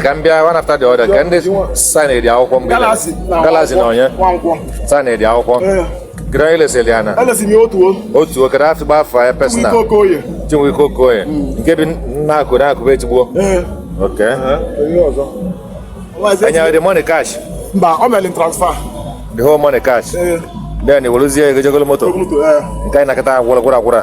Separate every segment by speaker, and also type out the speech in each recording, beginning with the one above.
Speaker 1: ka m bịa one after the other ka ndị saịnịrị akwụkwọ mgbe galasi na onye saịnịrị akwụkwọ gịrị onye ilesịrị ya na
Speaker 2: otu oke na afịgba
Speaker 1: afọ ya pesina Chinweike Okoye nke bi na-akụ na-akụba echigbuo ok enyewe the money cash mba ọ
Speaker 2: mere transfer the whole money
Speaker 1: cash then i woluzie ego je golo moto nke anyị na-akọ kịta gwụrụ gwụrụ agwụrụ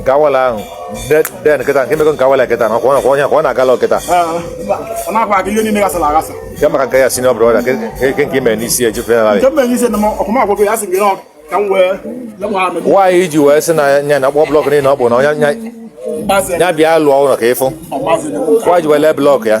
Speaker 1: nke awala ahụ then kịta nke mekọ nke awala kịta na ọkwa onye ka ọ na-agala
Speaker 2: kịta nke maka nke your senior
Speaker 1: brother nke nke ime n'isi eji fenarị
Speaker 2: why i ji wee sị
Speaker 1: na nya na akpọ blọk niile ọ bụ na nya bịa lụọ ụlọ ka ịfụ why i ji wee lee blọk ya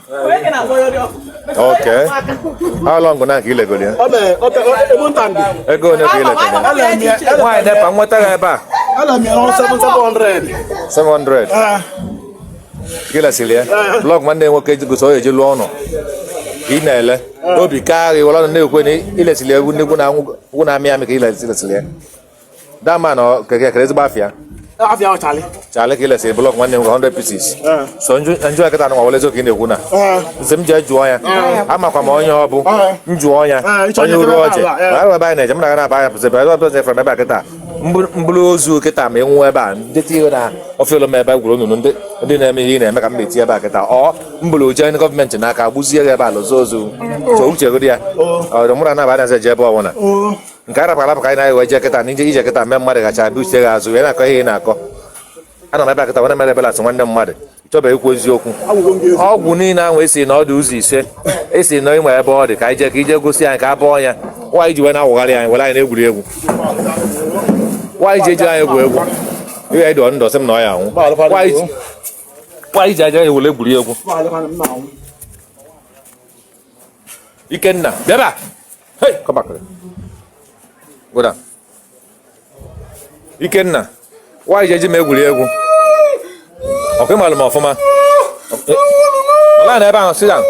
Speaker 1: Okay. How long now ka ilegoro ya? Ego one ka ilegoro ya? Why nepa nweta ya ebe a? 700. Ka ilesiri ya? Blọk nwanne nwoke gosi ọ eji lụọ ụnọ. Ka ị na-ele. Obi kaa gị i were ọnụ na-ekwu na ilesiri egwu nnekwu na amị amị ka ilesiri ya. That man ọ ka ka ezigbo afa ya. Afa ya ọ
Speaker 2: Charlie. Charlie ka ilesi
Speaker 1: blọk one? 100 pieces. Eh. So njụ njụọ ya kịta anụ nwawale eziokwu ị na-ekwu na. Eh. M sị m jee jụọ ya. Eh. Amakwa m onye ọ bụ. M jụọ ya. Onye Uruoji. Ma ebe anyị na-eje m na-aga na-aba anya pụsị ebe ebe ọzọ from ebe a kịta. M buru ozu kịta ma ịnwụ ebe a ndị tinye na ọfịa m ebe gwuru nnụnụ ndị na-eme ihe ị na-eme ka m na-eti ebe a kịta ọ m buru jee ndị gọọmenti n'aka gbuzie ya ebe ala ozu ozu. So uche gị dị ya. Ọ dị mụrụ anaba anaghị eje ebe ọbụla. nke arapụ arapụ ka anyị na-ewe je kịta na ije ije kịta mee mmadụ gacha abịa uche gị azụ wee na-akọ ihe ị na-akọ ana m abịa kịta wee na-emere ebele sị nwanne mmadụ chọba ikwu eziokwu ọgwụ niile ahụ esi na ọ dị ụzọ ise esi na ịnwe ebe ọ dị ka anyị jee ka ije gosi anyị ka a bọọ ya why i ji wee na-awụgharị anyị were anyị na-egwuri egwu why i ji ejiri anyị egwu egwu ihe anyị dụọ ndụ sị m na ọ ya anwụ why i ji eji anyị were egwuri egwu Ikenna bịaba Hey, come back. Go down. Ikenna, why i ji eji m egwuri egwu? Ọkwa ịmalụ m ọfụma. Nọlụ ana ebe ahụ, sit down.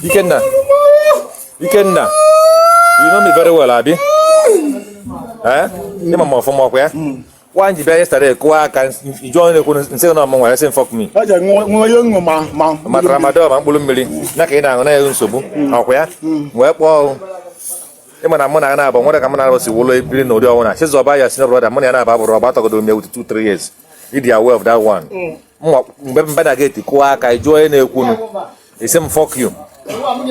Speaker 1: Ikenna, Ikenna, you know me very well, abi. Eh? Ịma m ọfụma ọkwa ya? Kwa m ji bịa yesterday kụwa aka i ji ọnụ na-ekwu nsị na ọ mụ were sị m fuck me. Ọ jere nwa onye ṅụ
Speaker 2: ma ma. Ma tramadol ma
Speaker 1: mkpụrụ mmiri ya ka ị na-aṅụ na-enye nsogbu ọkwa ya wee kpọọ ịma na mụ na ya na-abụ nwere ka mụ na ya si wụlọ ebiri na ụdị ọnwụ na Chizọba your senior brother mụ na ya na-aba bụrụ ọgbọ atọgodu m ya with 2 3 years ịdị aware of that one mgbe m bata na geti kụọ aka ị jụọ onye na-ekwunu ị sị m fọk yu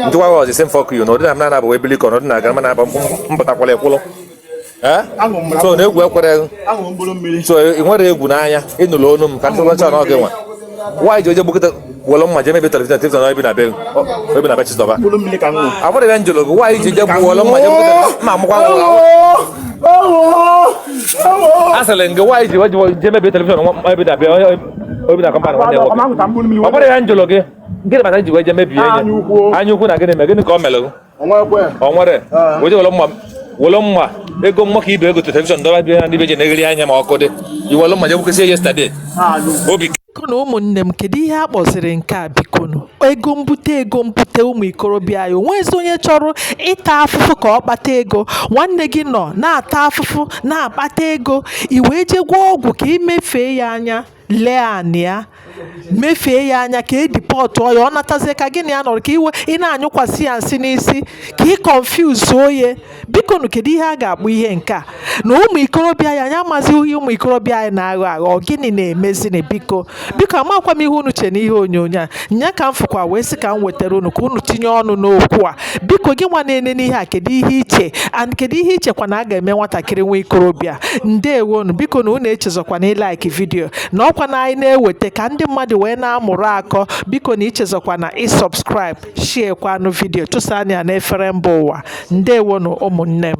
Speaker 1: ndị nwa ọzọ ị sị m fọk yu na ụdị na m na-anabụ ebili ka ọnọdụ na-aga mana abụ mpụtakwala ekwụlụ so na egwu ekwere so ị nwere egwu n'anya ị nụrụ onu m ka ndị ọcha na oge gwa m why i ji je gbukọta wọlọ mma jee mebie telivishọn telivishọn ebi na be ebi na be chizọba abụrụ ebe m jụrụ gị why i ji je gbuo wọlọ mma jee gbukọta ma amụkwa asịrị gị why i ji why i ji je mebie telivishọn ebe dabịa obi na kọmpanị nwanne nwoke ọ bụrụ ya m jụlụ gị gịnị kpatara i ji wee je mebie ya anya ukwu na gịnị mee gịnị ka ọ mere o nwere oje were mma were mma ego mma ka ibe ego telivishọn dọba bịa na ndị be ji na-eghere anya ma ọkụ dị i were mma je gbukesi yestade obi
Speaker 3: Bikonu ụmụnne m kedu ihe a kpọziri nke a bikonu? Ego mbute ego mbute ụmụ ikorobịa anyị o nweghịzi onye chọrọ ịta afụfụ ka ọ kpata ego nwanne gị nọ na-ata afụfụ na-akpata ego i wee jee gwọọ ọgwụ ka i mefee ya anya lee anya mefee ya anya ka e dipọtụọ ya ọ natazie ka gị na ya nọrọ ka i wee na-anyụkwasị ya nsị n'isi ka ị kọnfuzuo ya biko nụ kedu ihe a ga-akpọ ihe nke a na ụmụ ikorobịa anyị anyị amazighị ihe ụmụ ikorobịa anyị na-aghọ aghọ ọ gịnị na-emezini biko biko amakwa m ihe unu che n'ihe onyonyo a nya ka m fụkwa wee sị ka m wetara unu ka unu tinye ọnụ n'okwu a biko gị nwa na-enene ihe a kedu ihe i che and kedu ihe i chekwa na a ga-eme nwatakịrị nwa ikorobịa ndewonu biko na unu echezọkwana ịlaiki vidiyo na ọkwa na anyị na-eweta ka ndị mmadụ wee na-amụrụ akọ biko na echezọkwana ịsọbskraịb shiekwanụ vidiyo tụsanụ ya n'efere mba ụwa ndewonụ ụmụnne m